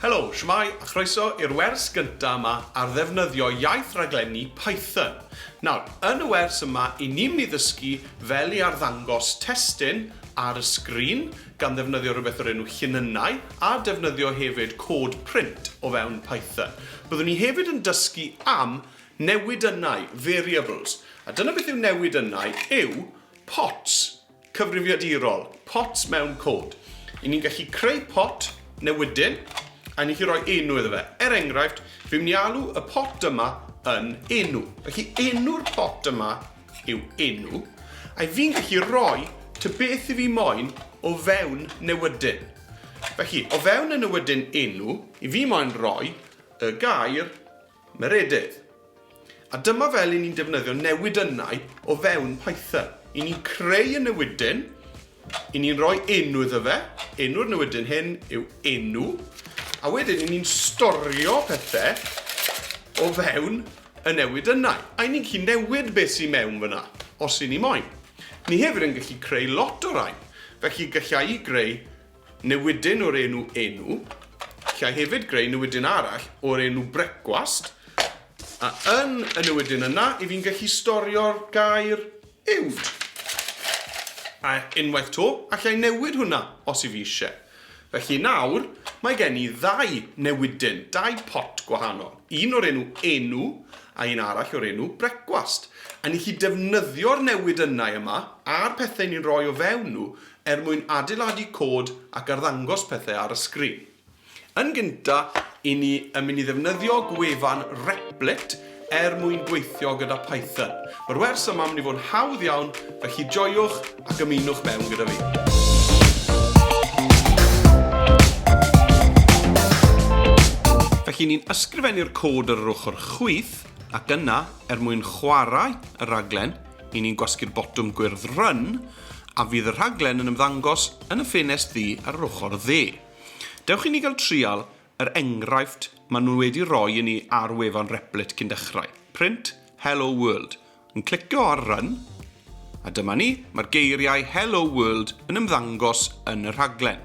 Helo, shwmae, a chroeso i'r wers gynta' yma ar ddefnyddio iaith raglenni Python. Nawr, yn y wers yma, 'yn ni myn' i ddysgu fel i arddangos testun ar y sgrin, gan ddefnyddio rhywbeth o'r enw llinynnau, a defnyddio hefyd cod print o fewn Python. Byddwn ni hefyd yn dysgu am newidynnau, variables. A dyna beth yw newidynnau, yw pots cyfrifiadurol, pot mewn cod. I ni'n gallu creu pot newydyn a ni'n gallu rhoi enw iddo fe. Er enghraifft, fi'n mynd i alw y pot yma yn enw. Felly enw'r pot yma yw enw, a fi'n gallu rhoi ty beth i fi moyn o fewn newydyn. Felly, o fewn y newydyn enw, i fi moyn rhoi y gair Meredydd. A dyma fel i ni'n defnyddio newidynnau o fewn Python. I ni'n creu y newidyn, i ni'n rhoi enw iddo fe, enw'r newidyn hyn yw enw, a wedyn i ni'n storio pethau o fewn y newid yna. A i ni'n gallu newid beth sy'n mewn fyna, os i ni moyn. Ni hefyd yn gallu creu lot o rai, felly gallai greu Newidyn o'r enw Enw. Gallai hefyd greu newidyn arall o'r enw Brecwast, a yn y newidyn yna, i fi'n gallu storio'r gair uwd. A unwaith to, allai newid hwnna, os i fi eisiau. Felly nawr, mae gen i ddau newidyn, dau pot gwahanol. Un o'r enw Enw, a un arall o'r enw Brecwast. A ni'n gallu defnyddio'r newidynnau yma, a'r pethau ni'n rhoi o fewn nhw, er mwyn adeiladu cod ac arddangos pethau ar y sgrin. Yn gynta, i ni yn mynd i ddefnyddio gwefan Replit er mwyn gweithio gyda Python. Mae'r wers yma yn mynd i fod yn hawdd iawn, felly joiwch ac ymunwch mewn gyda fi. Felly, ni'n ysgrifennu'r cod ar yr ochr chwith, ac yna, er mwyn chwarae y rhaglen, i ni'n gwasgu'r botwm gwyrdd Run, A fydd y rhaglen yn ymddangos yn y ffenest ddu ar yr ochr dde. Dewch i ni gael trial yr enghraifft maen nhw wedi roi i ni ar wefan Replit cyn dechrau. Print Hello World. Yn clicio ar Run. A dyma ni, mae'r geiriau Hello World yn ymddangos yn y rhaglen.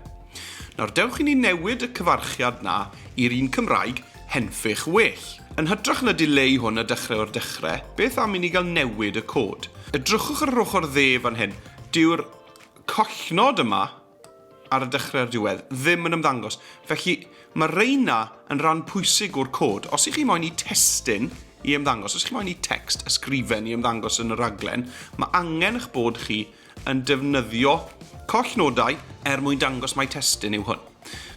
Nawr dewch i ni newid y cyfarchiad 'na i'r un Cymraeg Henffych well. Yn hytrach na dileu hwn a dechrau o'r dechre, beth am i ni gael newid y cod? Edrychwch ar yr ochr dde fan hyn. Dyw'r collnod yma ar y dechrau a'r diwedd ddim yn ymddangos. Felly, mae reina yn rhan pwysig o'r cod. Os ych chi moyn i testun i ymddangos, os ych chi moyn i text ysgrifen i ymddangos yn y rhaglen, mae angen eich bod chi yn defnyddio collnodau er mwyn dangos mai testun yw hwn.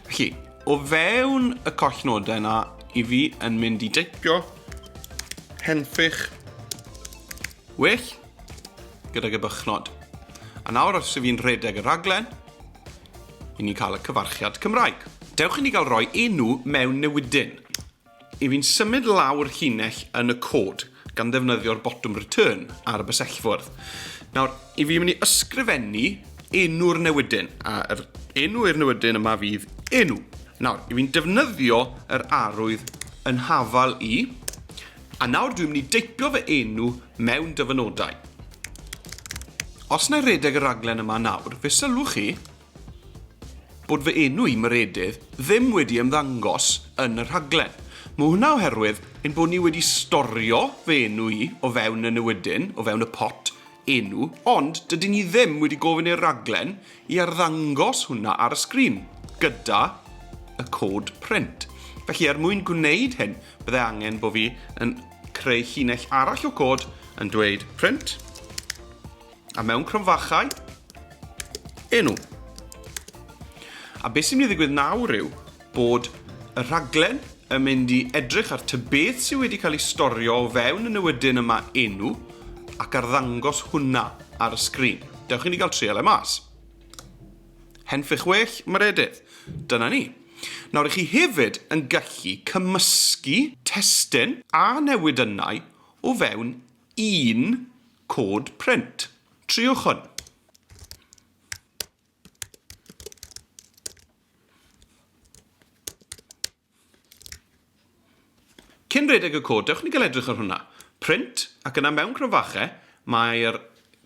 Felly, o fewn y collnodau yna, i fi yn mynd i deipio henffych well gydag y bychnod. A nawr os ydw i'n rhedeg y rhaglen, i ni cael y cyfarchiad Cymraeg. Dewch i ni gael rhoi enw mewn newidyn. I fi'n symud law'r llinell yn y cod, gan ddefnyddio'r botwm Return ar y bysellfwrdd. Nawr, i fi mynd i ysgrifennu enw'r newydyn, a yr enw i'r newydyn yma fydd enw. Nawr, i fi'n defnyddio yr arwydd yn hafal i, a nawr dwi'n mynd i deipio fy enw mewn dyfynodau. Os na i redeg y raglen yma nawr, fe sylwch chi bod fy enw i, Meredydd, ddim wedi ymddangos yn y rhaglen. Mae hwnna oherwydd ein bod ni wedi storio fy enw i o fewn y newydyn, o fewn y pot enw, ond dydyn ni ddim wedi gofyn i'r rhaglen i arddangos hwnna ar y sgrin, gyda y cod print. Felly, er mwyn gwneud hyn, byddai angen bod fi yn creu llinell arall o cod yn dweud print, A mewn cromfachau. Enw. A beth sy'n mynd i ddigwydd nawr yw bod y rhaglen yn mynd i edrych ar ty beth sydd wedi cael ei storio o fewn y newydyn yma enw ac arddangos hwnna ar y sgrin. Dewch i ni gael trial e mas. Henffych well, mae'r edydd. Dyna ni. Nawr, i chi hefyd yn gallu cymysgu testyn a newidynnau o fewn un Cod print. Triwch hwn. Cyn rhedeg y cod, dewch ni gael edrych ar hwnna. Print, ac yna mewn cronfachau, mae'r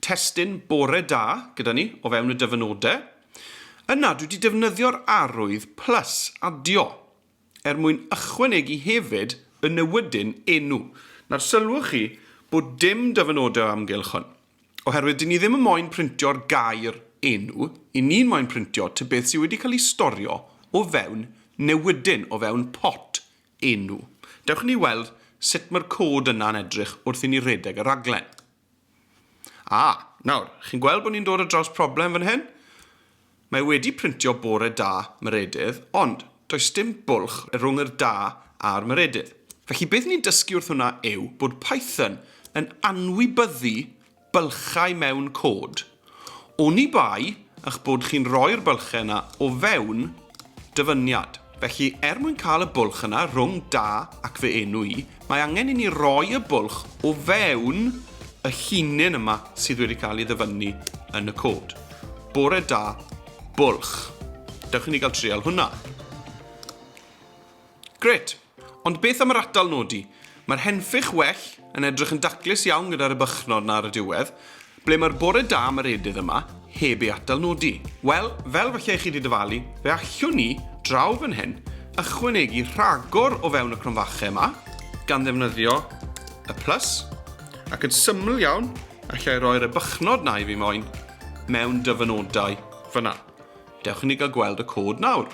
testun bore da gyda ni o fewn y dyfynodau. Yna, dwi wedi defnyddio'r arwydd plus adio. er mwyn ychwanegu hefyd y newydyn enw. Nawr, sylwch chi bod dim dyfynodau o amgylch hwn, oherwydd dyn ni ddim yn moyn printio'r gair enw, i ni'n moyn printio tybeth sydd wedi cael ei storio o fewn newydyn, o fewn pot enw. Dewch i ni weld sut mae'r cod yna'n edrych wrth i ni redeg y rhaglen. A, nawr, chi'n gweld bod ni'n dod ar draws problem fan hyn? Mae wedi printio bore da Meredydd, ond does dim bwlch rhwng yr da a'r Meredydd. Felly beth ni'n dysgu wrth hwnna yw bod Python yn anwybyddu bylchau mewn cod. Oni bai eich bod chi'n rhoi'r bylchau yna o fewn dyfyniad. Felly, er mwyn cael y bwlch yna rhwng da ac fy enw i, mae angen i ni roi y bwlch o fewn y llinyn yma sydd wedi cael ei ddyfynnu yn y cod. Bore da, bwlch. Dewch i ni gael trial hwnna. Grêt! Ond beth am yr atal nodi? Mae'r henffych well yn edrych yn daclus iawn gyda'r ebychnod 'na ar y diwedd. Ble mae'r bore da am yr edydd yma, heb ei atal nodi? Wel, fel falle i chi 'di dyfalu, fe allwn ni, draw fan hyn, ychwanegu rhagor o fewn y cromfache yma, gan ddefnyddio y plus, ac yn syml iawn, allai roi'r ebychnod 'na i fi moyn mewn dyfynodau fan'na. Dewch i ni gael gweld y cod nawr.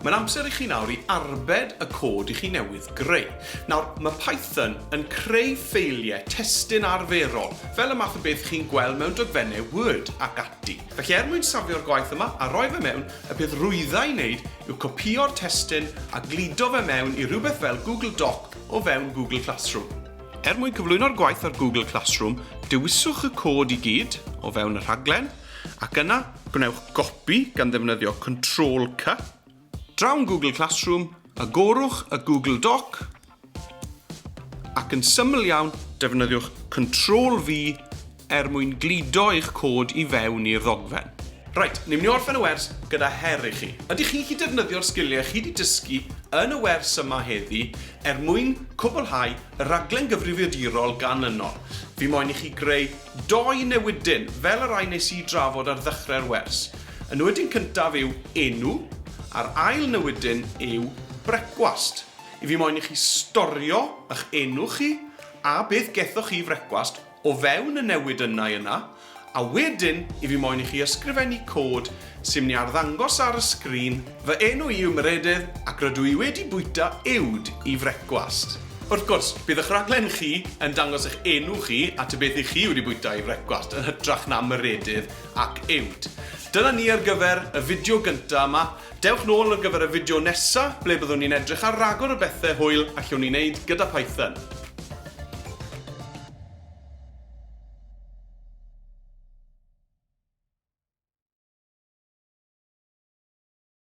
Mae'n amser i chi nawr i arbed y cod i chi newydd greu. Nawr, mae Python yn creu ffeiliau testun arferol, fel y math o beth chi'n gweld mewn dogfennau Word ac ati. Felly er mwyn safio'r gwaith yma a roi fe mewn, y peth rwydda i wneud yw copïo'r testun a gludo fe mewn i rywbeth fel Google Doc o fewn Google Classroom. Er mwyn cyflwyno'r gwaith ar Google Classroom, dewiswch y cod i gyd o fewn y rhaglen, ac yna gwnewch gopi gan ddefnyddio Control-C, draw Google Classroom, agorwch y Google Doc, ac yn syml iawn, defnyddiwch Control-V er mwyn gludo eich cod i fewn i'r ddogfen. Reit, ni'n mynd i orffen y wers gyda her i chi. Ydych chi chi defnyddio'r sgiliau chi wedi dysgu yn y wers yma heddi er mwyn cwblhau y rhaglen gyfrifiadurol gan yno? Fi moyn i chi greu dou newidyn fel y rhai nes i drafod ar ddechrau'r wers. Y newidyn cyntaf yw enw, a'r ail newidyn yw brecwast. I fi moyn i chi storio ych enw chi a beth gethoch chi i frecwast, o fewn y newid yna i yna, a wedyn i fi moyn i chi ysgrifennu cod sy'n mynd i arddangos ar y sgrin, fy enw i yw Meredydd ac rydw i wedi bwyta uwd i frecwast. Wrth gwrs, bydd ych rhaglen chi yn dangos eich enw chi a ta beth i chi wedi bwyta i frecwast, yn hytrach na Meredydd ac uwd. Dyna ni ar gyfer y fideo gyntaf yma. Dewch nôl ar gyfer y fideo nesa ble byddwn ni'n edrych ar ragor o bethe hwyl allwn ni wneud gyda Python.